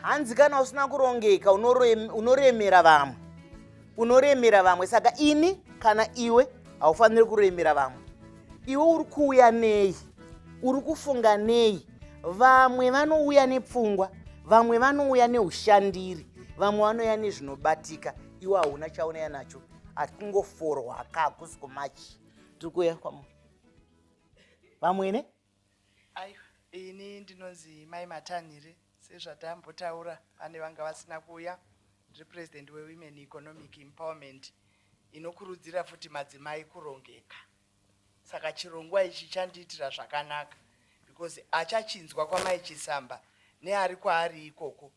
hanzi kana usina kurongeka unoremera vamwe unoremera vamwe saka ini kana iwe haufaniri kuremera vamwe iwe uri kuuya nei uri kufunga nei vamwe vanouya nepfungwa vamwe vanouya neushandiri vamwe vanouya nezvinobatika iwe hauna chaunouya nacho akungoforwa ka hakusi kumachi tiri kuuya kwamwe vamwene ini ndinonzi mai matanhire sezvatambotaura pane vanga vasina kuuya ndiri president wewomen economic empowerment inokurudzira futi madzimai kurongeka saka chirongwa ichi chandiitira zvakanaka because achachinzwa kwamai chisamba neari kwaari ikoko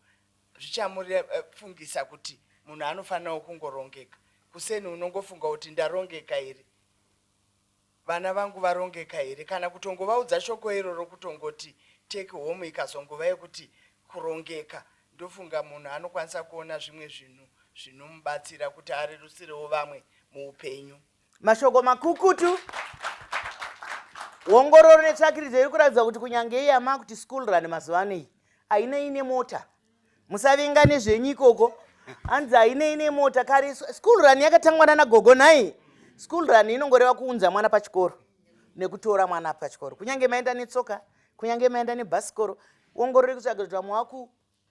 zvichamufungisa kuti munhu anofanirawo kungorongeka kuseni unongofunga kuti ndarongeka here vana vangu varongeka here kana kutongovaudza shoko iroro kutongoti take home ikazongova yekuti kurongeka ndofunga munhu anokwanisa kuona zvimwe zvinhu zvinomubatsira kuti arerusirewo vamwe muupenyu mashoko makukutu ongororo netsvakiridzo iri kuratidza kuti kunyange iye amaa kuti school run mazuva ano iyi haina ine mota musavinga nezvenyu ikoko hanzi haina ine mota kare school run yakatangwa nana gogo nhai school run inongoreva kuunza mwana pachikoro nekutora mwana pachikoro kunyange maenda netsoka kunyange maenda nebhasikoro ongorori kutsvaga kuti vamwe waku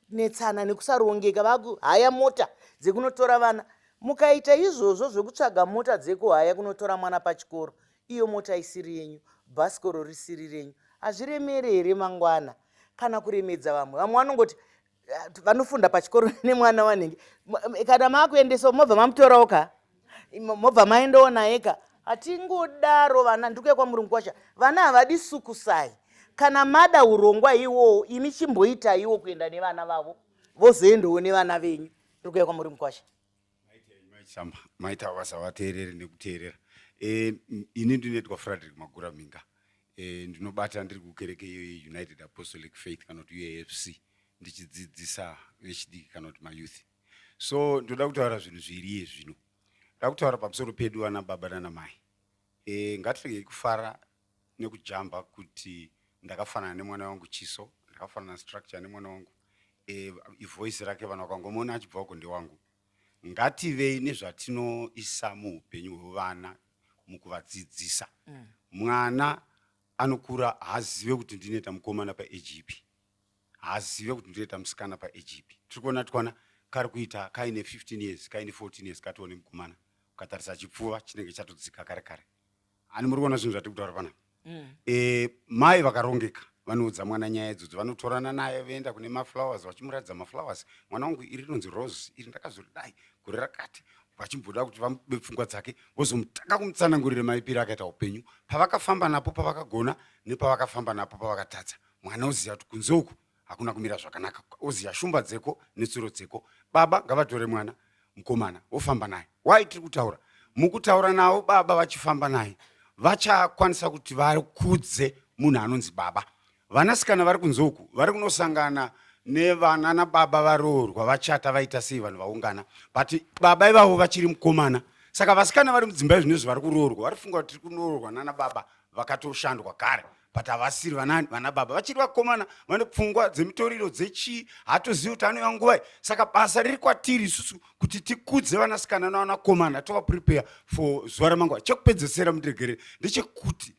netsana nekusarongeka vaku haya mota dzekunotora vana mukaita izvozvo zvekutsvaga mota dzekuhaya kunotora mwana pachikoro iyo mota isiri yenyu bhasikoro risiri renyu hazviremere here mangwana kana kuremedza vamwe vamwe vanongoti eh, vanofunda pachikoro nemwana wanenge kana maakuendesawo mobva mamutorawo ka Imo- mobva maendawo naye ka hatingodaro vana ndikuya kwamuri mukwasha vana havadi sukusai kana mada urongwa iwowo imi chimboitaiwo kuenda nevana vavo vozoendawo nevana venyu ndikuya kwamuri mukwasha maitamba maita basa vateerere nekuteerera e, ini ndinoitwa frederick magura minga e, ndinobata ndiri kukereke iyo yeunited apostolic faith kana kuti uafc ndichidzidzisa vechidiki kana kuti mayouth so ndoda kutaura zvinhu zviri iye zvino ndoda kutaura pamusoro pedu vana baba nana mai e, ngatiregei kufara nekujamba kuti ndakafanana nemwana wangu chiso ndakafanana structure nemwana wangu e, ivoice rake vanhu vakangomuona achibva uko ndewangu ngativei nezvatinoisa muupenyu hwevana mukuvadzidzisa mm. mwana anokura haazive kuti ndinoita mukomana paeji ipi haazive kuti ndireta musikana paage ipi tiri kuona twana kari kuita kaine 15 years kaine 14 years katione mukomana ukatarisa chipfuva chinenge chatodzika kare kare ani muri kuona zvinhu zvatiri kutaura panapa mm. e, mai vakarongeka vanoudza mwana nyaya idzodzo vanotorana naye voenda kune maflowers vachimuratidza maflowers mwana wangu iri rinonzi rose iri ndakazoridai gore rakati vachimboda kuti vamude pfungwa dzake vozomutanga kumutsanangurira maipiro akaita upenyu pavakafamba napo pavakagona nepavakafamba napo pavakatadza pa mwana oziva kuti kunze uku hakuna kumira zvakanaka oziva shumba dzeko netsuro dzeko baba ngavatore mwana mukomana wofamba naye why tiri kutaura mukutaura navo baba vachifamba naye vachakwanisa kuti vakudze munhu anonzi baba vanasikana vari kunze uku vari kunosangana nevana nababa varoorwa vachata vaita sei vanhu vaungana but baba ivavo vachiri mukomana saka vasikana vari mudzimba izvinezvi vari kuroorwa vari funga kuti tiri kunoroorwa nanababa vakatoshandwa kare but havasiri vanani vana baba vachiri vakomana vane pfungwa dzemitoriro dzechii hatozivi kuti anouya nguvai saka basa riri kwatiri isusu kuti tikudze vanasikana navanakomana tovaprepare for zuva ramangwana chekupedzesera mundiregerere ndechekuti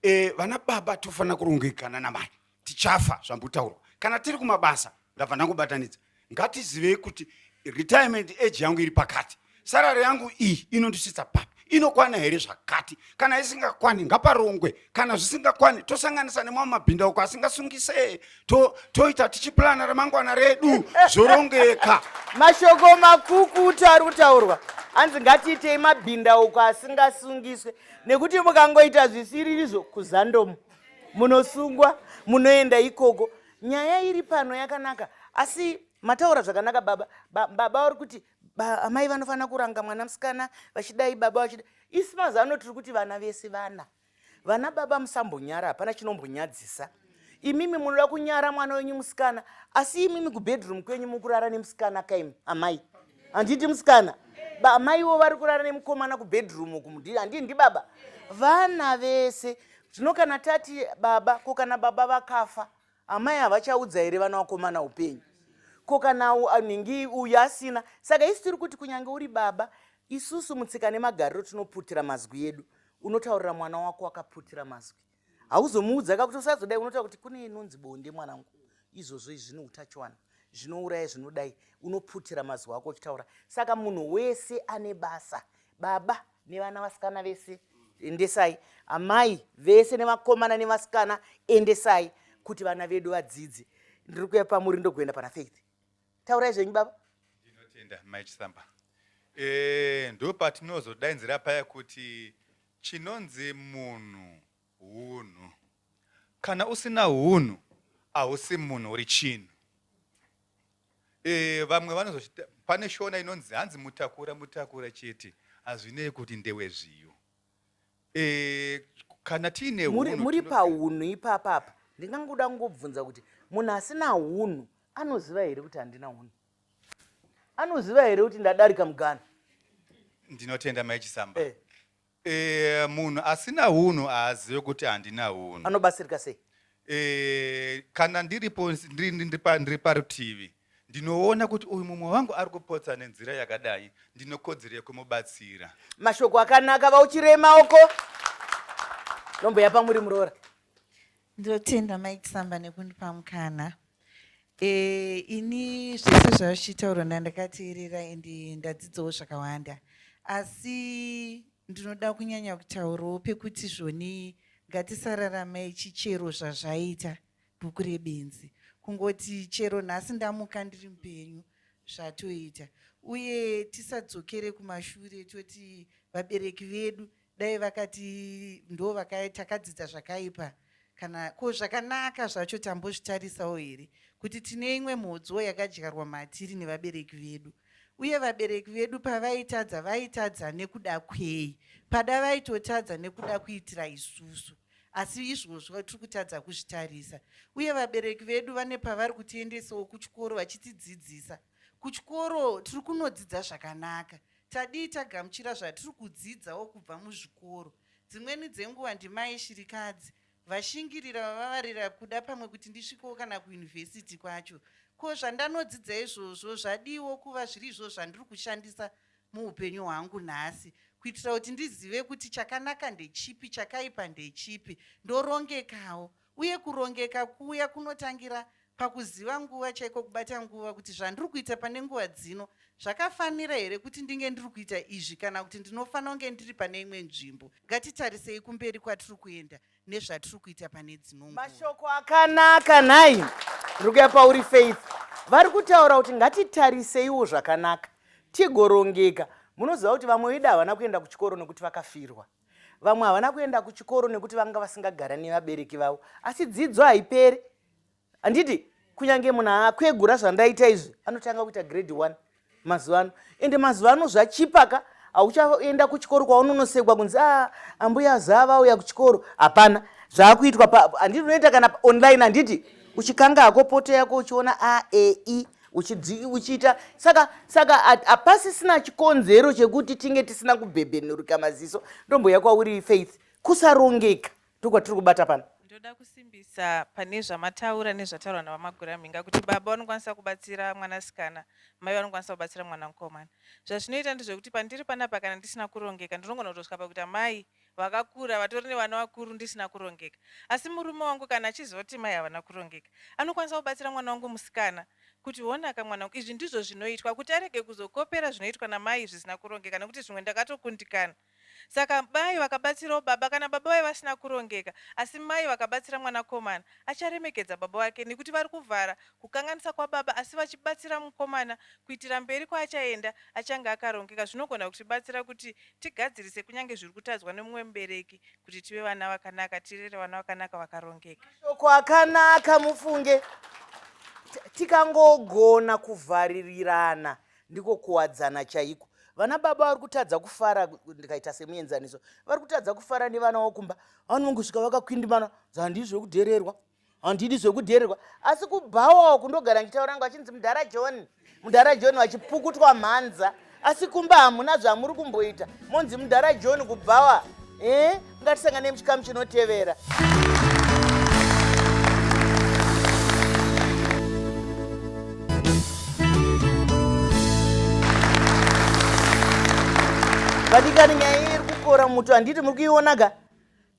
e, vana baba tofanira kurongekana namai tichafa zvambotaurwa kana tiri kumabasa ndabva ndangobatanidza ngatizivei kuti retirement age yangu iri pakati sarari yangu iyi inondisvitsa papi inokwana here zvakati kana isingakwani ngaparongwe kana zvisingakwani tosanganisa nemamwe mabhinda uko asingasungise toita to tichipurana ramangwana redu zvorongeka mashoko makukutu ari kutaurwa hanzi ngatiitei mabhinda uko asingasungiswe nekuti mukangoita zvisiririzvo kuzandomo munosungwa munoenda ikoko nyaya iri pano yakanaka asi mataura zvakanaka baba ba, baba vari kuti ba, amai vanofanira kuranga mwana musikana vachidai baba vachida isi mazano tiri kuti vana vese vana vana baba musambonyara hapana chinombonyadzisa imimi munoda kunyara mwana wenyu musikana asi imimi kubedroom kwenyu mukurara nemusikana kaimi amai handiti musikana amaiwo vari kurara nemukomana kubedroom uku mudii handii ndibaba vana vese zvino kana tati baba ko kana baba vakafa amai havachaudza here vana vakomana upenyu ko kana anhingi uyu asina saka isu tiri kuti kunyange uri baba isusu mutsika nemagariro tinoputira mazwi edu unotaurira mwana wako wakaputira mazwi hauzomuudza ka kuti usazodai unotaura kuti kune inonzi bonde mwanangu izvozvo izvi zvine utachiwana zvinouraya zvinodai unoputira mazuva ako uchitaura saka munhu wese ane basa baba nevana vasikana vese endesai amai vese nevakomana nevasikana endesai kuti vana vedu vadzidze ndiri kuya pamuri ndokuenda pana faith taurai zvenyu baba ndinotenda mai chisamba e, eh, ndo patinozodainzira paya kuti Chinonzi munhu hunhu. Kana usina hunhu hausi munhu uri chinhu. E, vamwe vanozochita pane shona inonzi hanzi mutakura mutakura chete hazvinei kuti ndewe zviyo. E, kana tiine hunhu muri pahunhu ipapapa ndingangoda kungobvunza kuti munhu asina hunhu anoziva here kuti handina hunhu. anoziva here kuti ndadarika mugana ndinotenda mai chisamba eh. E, munhu asina hunhu haazive kuti handina hunhu anobatsirika sei e, kana ndiripo ndiri parutivi ndinoona kuti uyu mumwe wangu ari kupotsa nenzira yakadai ndinokodzero yekumubatsira mashoko akanaka vauchirema uko nomboya pamuri muroora Ndotenda Mai Kisamba nekundipa mukana. E, ini zvese zvazvichitaurwa ndandakateerera ende ndadzidzawo zvakawanda asi ndinoda kunyanya kutaurawo pekuti zvoni ngatisararamei chichero zvazvaita bhuku rebenzi kungoti chero nhasi ndamuka ndiri mupenyu zvatoita uye tisadzokere kumashure toti vabereki vedu Dai vakati ndo vakai takadzidza zvakaipa kana ko zvakanaka zvacho tambozvitarisawo here kuti tine imwe mhodzoo yakadyarwa matiri nevabereki vedu uye vabereki vedu pavaitadza vaitadza nekuda kwei pada vaitotadza nekuda kuitira isusu asi izvozvo tiri kutadza kuzvitarisa uye vabereki vedu vane pavari kutiendesawo kuchikoro vachitidzidzisa kuchikoro tiri kunodzidza zvakanaka Tadii tagamuchira zvatiri kudzidzawo kubva muzvikoro. Dzimweni dzenguva ndimai shirikadzi vashingirira vavavarira kuda pamwe kuti ndisvikewo kana kuyunivhesiti kwacho. Ko zvandanodzidza izvozvo zvadiiwo kuva zviri izvo zvandiri kushandisa muupenyu hwangu nhasi kuitira kuti ndizive kuti chakanaka ndechipi, chakaipa ndechipi, ndorongekawo. uye kurongeka kuya kunotangira pakuziva nguva chaiko kubata nguva kuti zvandiri kuita pane nguva dzino zvakafanira here kuti ndinge ndiri kuita izvi kana kuti ndinofanira kunge ndiri pane imwe nzvimbo ngatitarisei kumberi kwatiri kuenda nezvatiri kuita pane dzino mashoko akanaka nhai ndiri kuya pauri faith vari kutaura kuti ngatitariseiwo zvakanaka tigorongeka munoziva kuti vamwe vedu havana kuenda kuchikoro nekuti vakafirwa Vamwe havana kuenda kuchikoro nekuti vanga vasingagara nevabereki vavo asi dzidzo haiperi handiti kunyange munhu akwegura zvandaita izvi anotanga kuita grade one mazuva ano ende mazuva ano zvachipaka hauchaenda kuchikoro kwaunonosekwa kunzi a ah, ambuya zaa vauya kuchikoro hapana zvaakuitwa handiti unoita kana online handiti uchikanga hako poto yako uchiona a e i uchiita saka saka hapasisina chikonzero chekuti tinge tisina kubhebhenurika maziso ndomboya kwauri faith kusarongeka ndokwatiri kubata pano ndoda kusimbisa pane zvamataura nezvataurwa navamagura mhinga kuti baba vanokwanisa kubatsira mwanasikana mai vanokwanisa kubatsira mwana mukomana zvazvinoita ndezvekuti pandiri panapa kana ndisina kurongeka ndinongona kutosvika pakuita mai vakakura vatori nevana vakuru ndisina kurongeka asi murume wangu kana achizoti mai havana kurongeka anokwanisa kubatsira mwana wangu musikana kuti honaka mwana wangu izvi ndizvo zvinoitwa kuti arege kuzokopera zvinoitwa namai zvisina kurongeka nekuti zvimwe ndakatokundikana saka mai vakabatsirawo baba kana baba vaye vasina kurongeka asi mai vakabatsira mwanakomana acharemekedza baba vake nekuti vari kuvhara kukanganisa kwababa asi vachibatsira mukomana kuitira mberi kwaachaenda achange akarongeka zvinogona kutibatsira kuti tigadzirise kunyange zviri kutadzwa nemumwe mubereki kuti tive vana vakanaka tirere vana vakanaka vakarongeka mashoko akanaka mufunge tikangogona kuvharirirana ndiko kuwadzana chaiko vana baba vari kutadza kufara ndikaita semuenzaniso vari kutadza kufara nevana vokumba vanongosvika vakakwindimana dzandizve kudhererwa handidi zvekudheererwa asi kubhawawo kundogara ndichitaura ngo achinzi mudhara john mudhara john vachipukutwa mhanza asi kumba hamuna zvamuri kumboita monzi mudhara john kubhawa e eh, ngatisangane muchikamu chinotevera vadikani nyaya iri kukora muto handiti muri kuionaga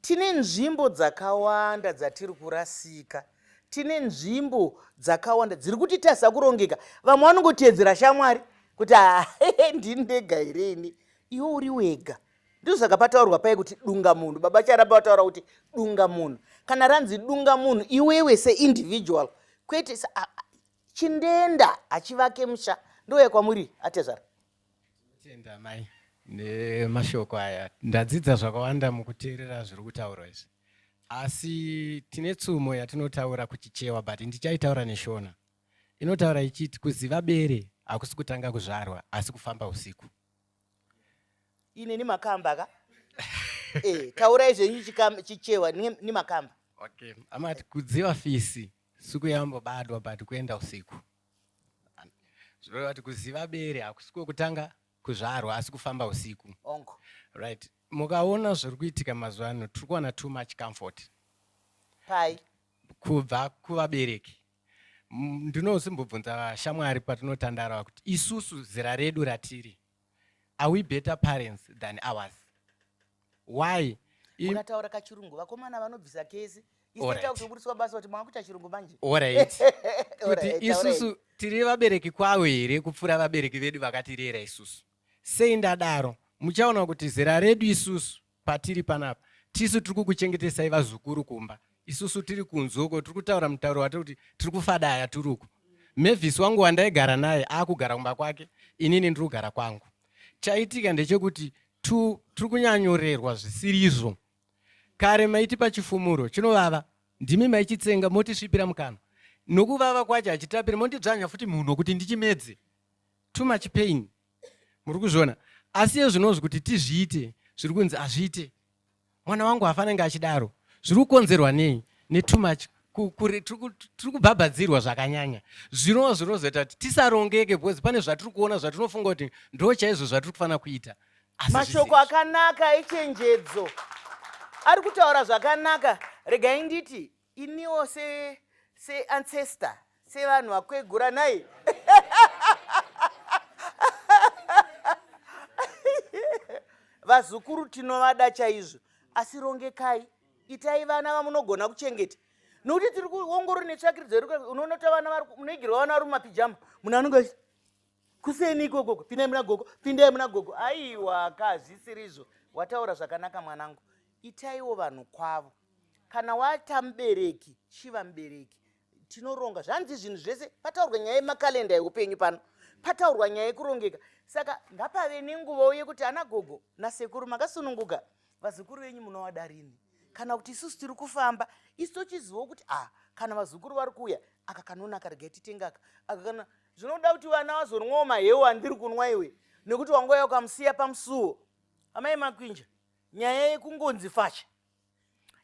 Tine nzvimbo dzakawanda dzatiri kurasika. Tine nzvimbo dzakawanda dziri kutitadza kurongeka. Vamwe vanongoteedzera shamwari kuti haa ndini ndega here ini. Iwe uri wega. Ndizvo saka pataurwa paye kuti dunga munhu. Baba Charamba vataura kuti dunga munhu. Kana ranzi dunga munhu iwewe seindividual kwete chindenda hachivake musha. Ndouya kwamuri atezvara. Tinotenda mai nemashoko aya ndadzidza zvakawanda mukuteerera zviri kutaurwa izvi asi tine tsumo yatinotaura kuchichewa but ndichaitaura neshona inotaura ichiti kuziva bere hakusi kutanga kuzvarwa asi kufamba usiku inini makamba ka eh, taurai zvenyu chichewa ni makamba okay amati kudziva fisi siku yambobadwa but kuenda usiku zvoreva kuti kuziva bere hakusi kwekutanga kuzvarwa asi kufamba usiku ongo right mukaona zviri kuitika mazuva ano tiri kuwana too much comfort pai kubva kuvabereki ndinosimbobvunza vashamwari patinotandara kuti isusu zera redu ratiri Are we better parents than ours? Why? Mukataura kachirungu vakomana vanobvisa kesi isitakuburitswa basa kuti mwana kuita chirungu manje. Alright. Kuti isusu tiri vabereki kwavo here kupfuura vabereki vedu vakatirera isusu. Sei ndadaro? Muchaona kuti zera redu isusu Patiri panapa tisu tiri kukuchengetesai vazukuru kumba, isusu tiri kunze uko tiri kutaura mutauro wati kuti tiri kufadaya tiri uko. Mavis wangu wandaigara naye akugara kumba kwake, inini ndiri kugara kwangu. Chaitika ndechekuti tu- tiri kunyanyorerwa zvisiri izvo. Kare maitipa chifumuro chinovava, ndimi maichitsenga motisvipira mukanwa. Nokuvava kwacho hachitapiri, mondidzvanya futi mhuno kuti ndichimedze. Too much pain. muri kuzviona asi iye zvinonzi kuti tizviite zviri kunzi hazviite mwana wangu hafanenge achidaro zviri kukonzerwa nei netoo much tiri kubhabhadzirwa zvakanyanya zvinova zvinozoita kuti tisarongeke because pane zvatiri kuona zvatinofunga kuti ndo chaizvo zvatiri kufanira kuita mashoko akanaka echenjedzo ari kutaura zvakanaka regai nditi iniwo se se ancestor sevanhu vakwegura nhai vazukuru tinovada chaizvo asi rongekai itai vana vamunogona kuchengeta nokuti tiri kuongorora netsvakiridzo unoona kuti vana munoigirwa vana vari mumapijama munhu anonge kuseni ikoko pindai muna gogo pindai muna gogo aiwa ka hazvisirizvo wataura zvakanaka mwanangu itaiwo vanhu kwavo kana wata mubereki chiva mubereki tinoronga zvanzi zvinhu zvese pataurwa nyaya yemakalenda yeupenyu pano pataurwa nyaya yekurongeka saka ngapave nenguvawo yekuti ana gogo nasekuru makasununguka vazukuru venyu munovada rini kana kuti isusu tiri kufamba isu tochizivawo kuti a ah, kana vazukuru vari kuuya aka kanonaka regai titengaka aka kana zvinoda kuti vana vazonwawo mahewu andiri kunwa iwe nekuti wangouya ukamusiya pamusuwo amai makwinja nyaya yekungonzi facha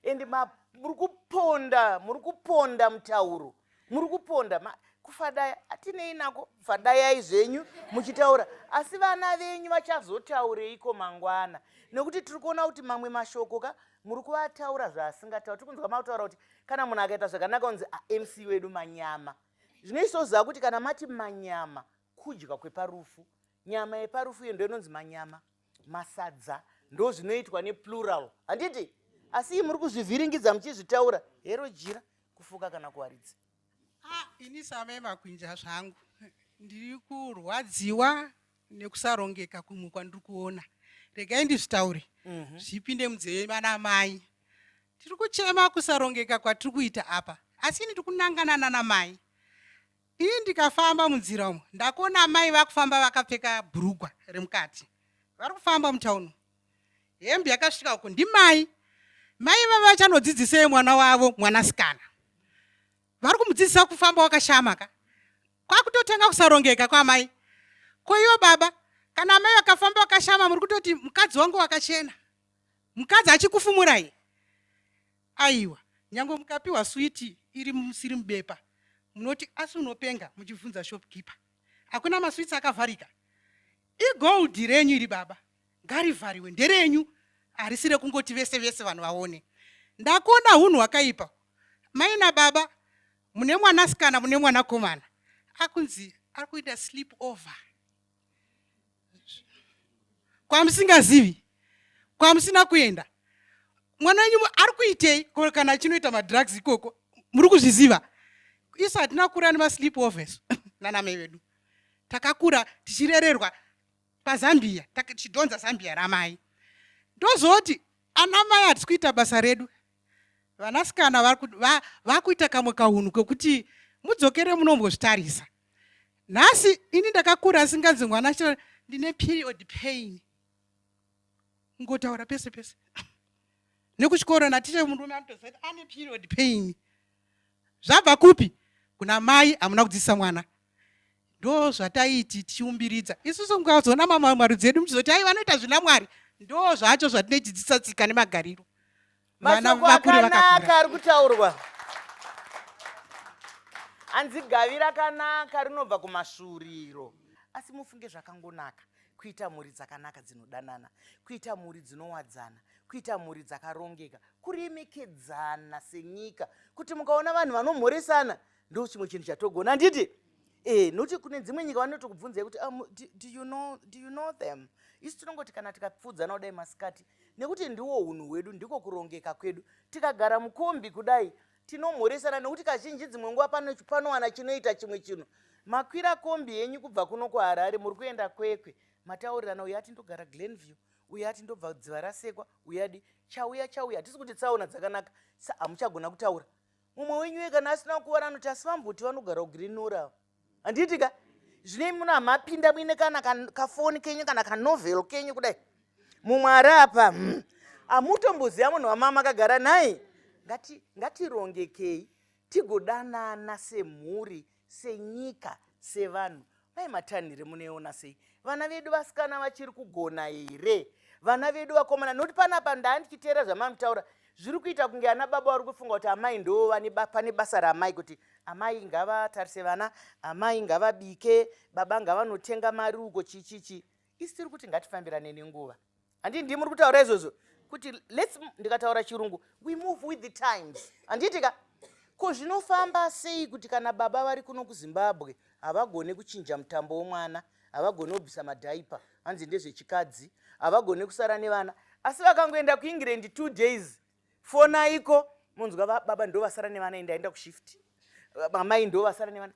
endi muri kuponda muri kuponda mutauro muri kuponda kufadaya atinei nako fadayai zvenyu muchitaura asi vana venyu vachazotaureiko mangwana nekuti tiri kuona kuti mamwe mashoko ka muri kuvataura zvaasingataura tiri kunzwa mataura kuti kana munhu akaita zvakanaka unzi amc ah, wedu manyama zvinoisoziva kuti kana mati manyama kudya kweparufu nyama yeparufu iyo ndoinonzi manyama masadza ndo zvinoitwa neplural handiti asi iyi muri kuzvivhiringidza muchizvitaura hero jira kufuka kana kuwaridza ah, ini same makwinja zvangu ndiri kurwadziwa nekusarongeka kumwe kwandiri kuona regai ndizvitaure mhm. zvipinde munzeve mana mai Tiri kuchema kusarongeka kwatiri kuita apa, asi ini tikunangana nana mai. Ini ndikafamba munzira umo ndakuona amai vakufamba vakapfeka bhurugwa remukati, vari kufamba mutauni, hembe yakasvika uko. Ndimai mai vava vachanodzidzisei mwana wavo mwanasikana? Vari kumudzidzisa kufamba wakashama ka, kwakutotanga kusarongeka kwamai. Ko ivo baba, kana amai vakafamba wakashama, muri kutoti mukadzi wangu wakachena. mukadzi achikufumurai aiwa nyange mukapiwa switi iri musiri mubepa munoti asi unopenga muchibvunza shopkeeper hakuna maswitsi akavharika igold renyu iri baba ngarivhariwe nderenyu harisi rekungoti vese vese vanhu vaone ndakuona hunhu hwakaipa maina baba mune mwanasikana mune mwanakomana akunzi ari kuita sleep over kwamusingazivi kwamusina kuenda mwana wenyu ari kuitei ko kana achinoita madrugs ikoko muri kuzviziva isu hatina kura nemasleep overs nanamai vedu takakura tichirererwa pazambia tichidhonza zambia ramai ndozoti ana mai hatisi kuita basa redu vanasikana vakuita kamwe kaunhu kekuti mudzokere munombozvitarisa nhasi ini ndakakura asinganzi mwana achitaura ndine period pain ngotaura pese pese nekuchikoro naticha murume anotoziva kuti ane period pain zvabva kupi kuna mai hamuna kudzidzisa mwana ndo zvataiti tichiumbiridza isusu mukazoona mamwe marudzi edu muchizoti ai vanoita zvina mwari ndo zvacho zvatinochidzidzisa tsika nemagariro mashoko akanaka ari kutaurwa hanzi gavi rakanaka rinobva kumasvuuriro asi mufunge zvakangonaka kuita mhuri dzakanaka dzinodanana kuita mhuri dzinowadzana kuita mhuri dzakarongeka kuremekedzana senyika kuti mukaona vanhu vanomhoresana ndo chimwe chinhu chatogona handiti e nokuti kune dzimwe nyika vanotokubvunzai kuti um, do, do, you know, do you know them isu tinongoti kana tikapfuudzana kudai masikati nekuti ndiwo unhu hwedu ndiko kurongeka kwedu tikagara mukombi kudai tinomhoresana nekuti kazhinji dzimwe nguva panowana chinoita chimwe chinhu makwira kombi yenyu kubva kuno kuharare muri kuenda kwekwe mataurirana uyo ati ndogara glen view uyo ati ndobva dziva rasekwa uyadi chauya chauya hatisi kuti tsaona dzakanaka sa hamuchagona kutaura mumwe wenyu uye kana asina kukuvara anoti asi vambuti vanogara kugirinura handiti ka zvine muno hamapinda muine kana kafoni kenyu kana kanovel kenyu kudai mumwe ari apa hmm. hamutomboziva munhu wamama akagara nhai ngatirongekei tigodanana semhuri senyika sevanhu mai matanhire munoiona sei vana vedu vasikana vachiri kugona here vana vedu vakomana nokuti panapa ndaa ndichiteera zvamari kutaura zviri kuita kunge ana baba vari kufunga kuti amai ndo pane basa raamai kuti amai ngavatarise vana amai ngavabike baba ngavanotenga mari uko chichichi isi tiri kuti ngatifambirane nenguva handi ndi muri kutaura izvozvo kuti lets ndikataura chirungu we move with the times handiti ka ko zvinofamba sei kuti kana baba vari kuno kuzimbabwe havagone kuchinja mutambo womwana havagone kubvisa madhaipa hanzi ndezvechikadzi havagone kusara nevana asi vakangoenda kuengland two days fonaiko munzwa baba ndovasara nevana endaenda kushift mamai ndovasara nevana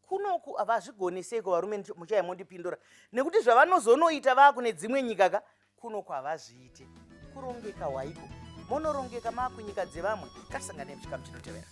kunoku havazvigone seiko varume muchaya mondipindura nekuti zvavanozonoita vakune dzimwe nyika ka kunoku havazviite kurongeka waiko monorongeka maakunyika dzevamwe kasanganei muchikamu chinotevera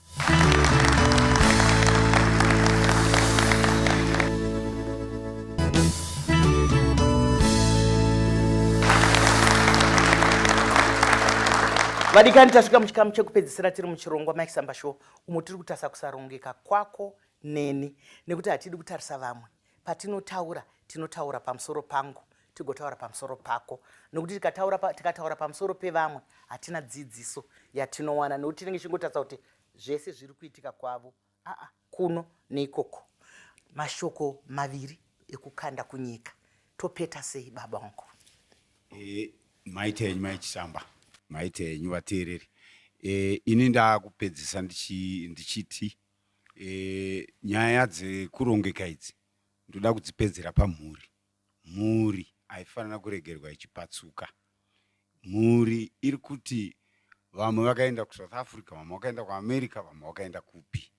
vadikani tasvika muchikamu chekupedzisira tiri muchirongwa mike samba show umo tiri kutasa kusarongeka kwako neni nekuti hatidi kutarisa vamwe patinotaura tinotaura pamusoro pangu tigotaura pamusoro pako nokuti tikataura pa, tikataura pamusoro pevamwe hatina dzidziso yatinowana nokuti tinenge tichingotarisa kuti zvese zviri kuitika kwavo aa kuno neikoko mashoko maviri ekukanda kunyika topeta sei baba wangu e, maita enyu maichisamba maita enyu vateereri e, ini ndakupedzisa ndichiti ndichi Eh, nyaya dzekurongeka idzi ndoda kudzipedzera pamhuri mhuri haifanira kuregerwa ichipatsuka mhuri iri kuti vamwe vakaenda kusouth africa vamwe vakaenda kuamerica vamwe vakaenda kupi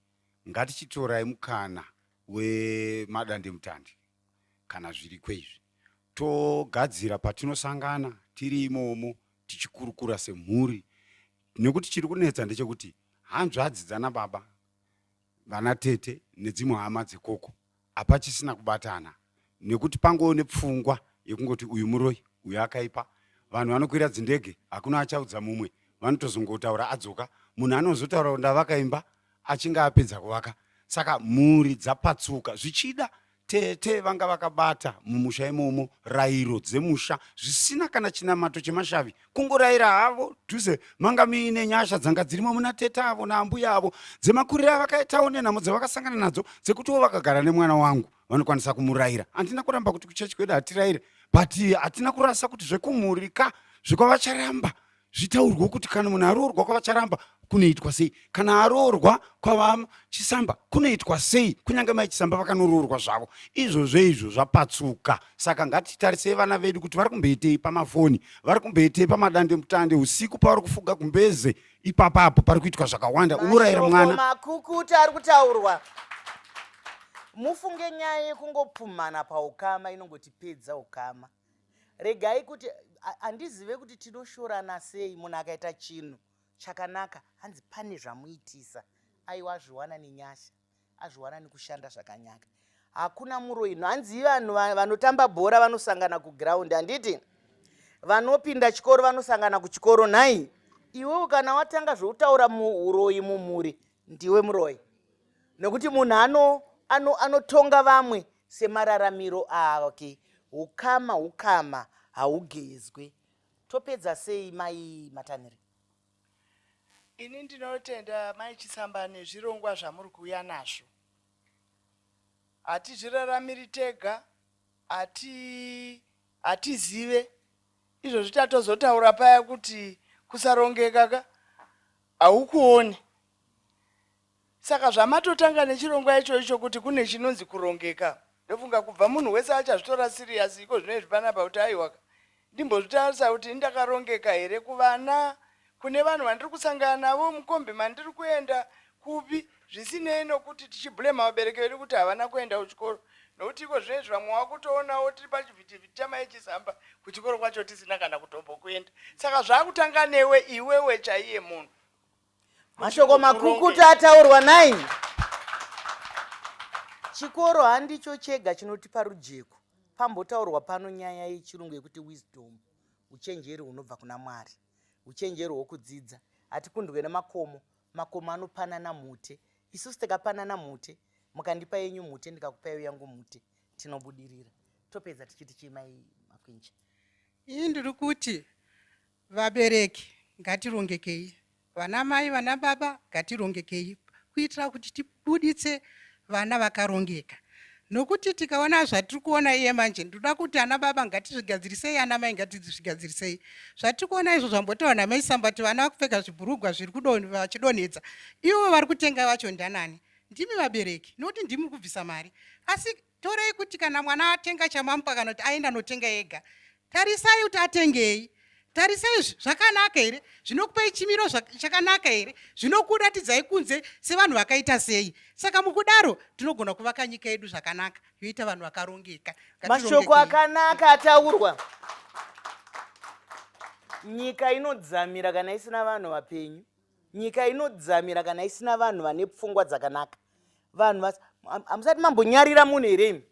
ngatichitorai mukana wemadandemutande kana zviriko izvi togadzira patinosangana tiri imomo tichikurukura semhuri nekuti chiri kunetsa ndechekuti hanzvadzi dzana baba vana tete nedzimwe hama dzekoko hapachisina kubatana nekuti pangoo nepfungwa yekungoti uyu muroi uyu akaipa vanhu vanokwira dzindege hakuna achaudza mumwe vanotozongotaura adzoka munhu anozotaura ndavaka imba achinge apedza kuvaka saka mhuri dzapatsuka zvichida Tete vanga vakabata mumusha imomo rairo dzemusha zvisina kana chinamato chemashavi kungoraira havo dhuze manga muine nyasha dzanga dzirimo muna tete avo naambuya avo dzemakuriro avakaitawo nenhamo dzavakasangana nadzo dzekutiwo vakagara nemwana wangu vanokwanisa kumuraira handina kuramba kuti kuchechi kwedu hatiraire but hatina kurasa kuti zvekumhurika zvekwavacharamba zvitaurwe kuti kana munhu aroorwa kwavacharamba kunoitwa sei kana aroorwa kwavachisamba kunoitwa sei kunyange mai chisamba vakanoroorwa zvavo izvozvo izvo zvapatsuka saka ngatitarisei vana vedu kuti vari kumboitei pamafoni vari kumboitei pamadande mutande usiku pavari kufuga kumbeze ipapa apo pari kuitwa zvakawanda unorayira mwana makukuta ari kutaurwa mufunge nyaya yekungopfumhana paukama inongotipedza ukama Regai kuti handizive kuti tinoshorana sei munhu akaita chinhu chakanaka hanzi pane zvamuitisa aiwa azviwana nenyasha azviwana nekushanda zvakanyaka hakuna muroyi hanzi vanhu vanotamba bhora vanosangana kuground handiti vanopinda chikoro vanosangana kuchikoro nhai iwewo kana watanga zvoutaura muuroyi mumhuri ndiwe muroyi nekuti munhu anotonga vamwe Semararamiro ake, hukama hukama haugezwe. Topedza sei mai Matanhire? Ini ndinotenda mai Chisamba nezvirongwa zvamuri kuuya nazvo. Hatizviraramiri tega, hati hatizive izvozvi tatozotaura paya kuti kusarongeka ka haukuoni. Saka zvamatotanga nechirongwa ichoicho kuti kune chinonzi kurongeka ndofunga kubva munhu wese achazvitora serious iko zvinoizvi panapa kuti aiwaka ndimbozvitarisa kuti indakarongeka here kuvana kune vanhu vandiri kusangana navo mukombi mandiri kuenda kupi zvisinei nokuti tichiblema vabereki vedu kuti havana kuenda kuchikoro nokuti iko zvinoizvi vamwe wakutoonawo tiri pachivhitivhiti chamaechizamba kuchikoro kwacho tisina kana kutombokuenda saka zvaakutanga newe iwewe chaiye munhu Mashoko makukutu ataurwa 9. Chikoro handicho chega chinotipa rujeko. Pambotaurwa pano nyaya yechirungu yekuti wisdom, uchenjeri hunobva kuna Mwari, uchenjeri hwokudzidza. Hatikundwe nemakomo, makomo anopanana mhute. Isusu tikapanana mhute, mukandipa yenyu mhute ndikakupaiwo yangu mhute, tinobudirira. Topedza tichiti chimai Makwinja. Ini ndiri kuti Vabereki ngatirongekei, vana mai vana baba ngatirongekei kuitira kuti tibuditse vana vakarongeka nokuti tikaona zvatiri kuona iye manje ndoda kuti ana baba ngatizvigadzirisei ana mai ngatizvigadzirisei zvatiri kuona izvo zvambotaura namai sambati vana vakupfeka zvibhurugwa zviri vachidonhedza ivo vari kutenga vacho ndanani ndimi vabereki nokuti ndimi kubvisa mari asi torei kuti kana mwana atenga chamamukwa kana kuti aenda anotenga ega tarisai kuti atengei tarisai zvakanaka here zvinokupei chimiro chakanaka here zvinokuratidzai kunze sevanhu vakaita sei saka mukudaro tinogona kuvaka nyika yedu zvakanaka yoita vanhu vakarongeka mashoko akanaka ataurwa nyika inodzamira kana isina vanhu vapenyu nyika inodzamira kana isina vanhu vane pfungwa dzakanaka vanhu vas hamusati mambonyarira munhu here imi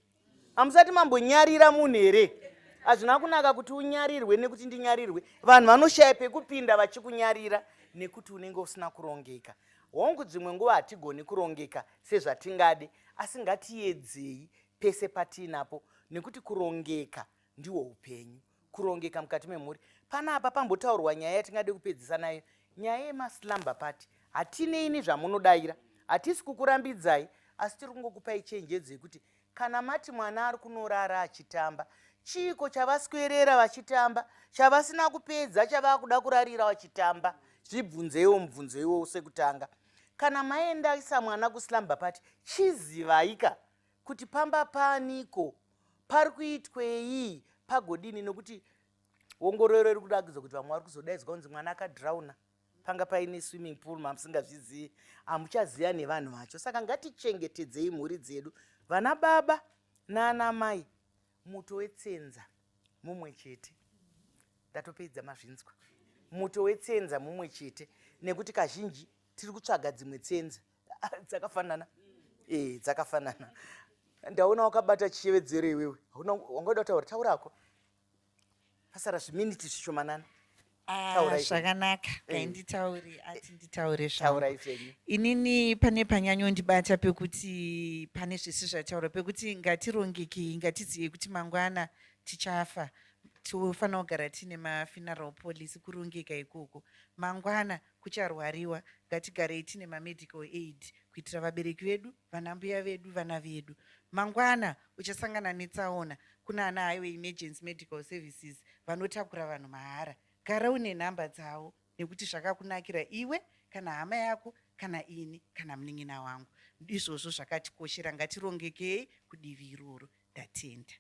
hamusati mambonyarira munhu here hazvina kunaka kuti unyarirwe nekuti ndinyarirwe vanhu vanoshaya pekupinda vachikunyarira nekuti unenge usina kurongeka hongu dzimwe nguva hatigoni kurongeka sezvatingade asi ngatiyedzei pese patiinapo nekuti kurongeka ndiwo upenyu kurongeka mukati memhuri pana apa pambotaurwa nyaya yatingade kupedzisa nayo nyaya yemaslumber party hatinei nezvamunodaira hatisi kukurambidzai asi tiri kungokupai chenjedzo yekuti kana mati mwana ari kunorara achitamba chiiko chavaswerera vachitamba chavasina kupedza chavakuda kurarira vachitamba zvibvunzeiwo mubvunzo iwowo sekutanga kana maendaisa mwana kuslumber party chizivaika kuti pamba paniko pari kuitwei pagodini nokuti ongororo iri kuda kuzo kuti vamwe vari kuzodaidzwa kunzi mwana akadhirauna panga paine swimming pool mamusingazvizivi hamuchaziva nevanhu vacho saka ngatichengetedzei mhuri dzedu vana baba naana mai muto wetsenza mumwe chete ndatopedza mazvinzwa muto wetsenza mumwe chete nekuti kazhinji tiri kutsvaga dzimwe tsenza dzakafanana eh dzakafanana ndaona wakabata chiyevedzero iwewe hauna wangoda kutaura taura hako pasara zviminiti zvishomanana ah, zvakanaka eh. kainditauri ati nditaure zvaura izvenyu inini pane panyanyondibata pekuti pane zvese zvataura pekuti ngatirongekei ngatiziyei kuti mangwana tichafa tofanira kugara tiine mafuneral policy kurongeka ikoko mangwana Kucharwariwa, ngatigarei tine ma medical aid kuitira vabereki vedu, vanambuya vedu, vana vedu. Mangwana uchasangana netsaona kunana Highway Emergency Medical Services vanotakura vanhu mahara. Gara une nhamba dzavo nekuti zvakakunakira iwe kana hama yako kana ini kana munin'ina wangu. Ndizvozvo zvakatikoshera ngatirongekei kudivi iroro. ndatenda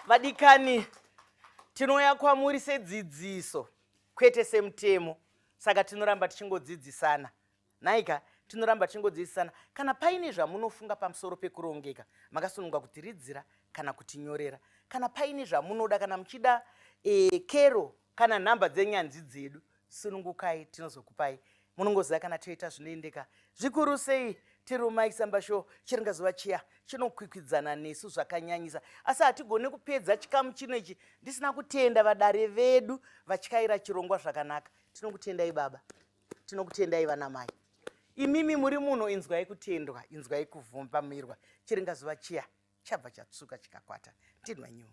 vadikani tinouya kwamuri sedzidziso kwete semutemo saka tinoramba tichingodzidzisana nhaika tinoramba tichingodzidzisana kana paine zvamunofunga pamusoro pekurongeka makasununga kutiridzira kana kutinyorera kana paine zvamunoda kana muchida e, kero kana nhamba dzenyanzvi dzedu sunungukai tinozokupai munongoziva kana toita zvinoendeka zvikuru sei tirumai samba show chiringazuva chiya chinokwikwidzana nesu zvakanyanyisa asi hatigone kupedza chikamu chino ichi ndisina kutenda vadare vedu vatyaira chirongwa zvakanaka tinokutendai baba tinokutendai vanamai imimi muri muno inzwai kutendwa inzwai kuvumbamirwa chiringazuva chiya chabva chatsuka chikakwata ndinwa nyuwo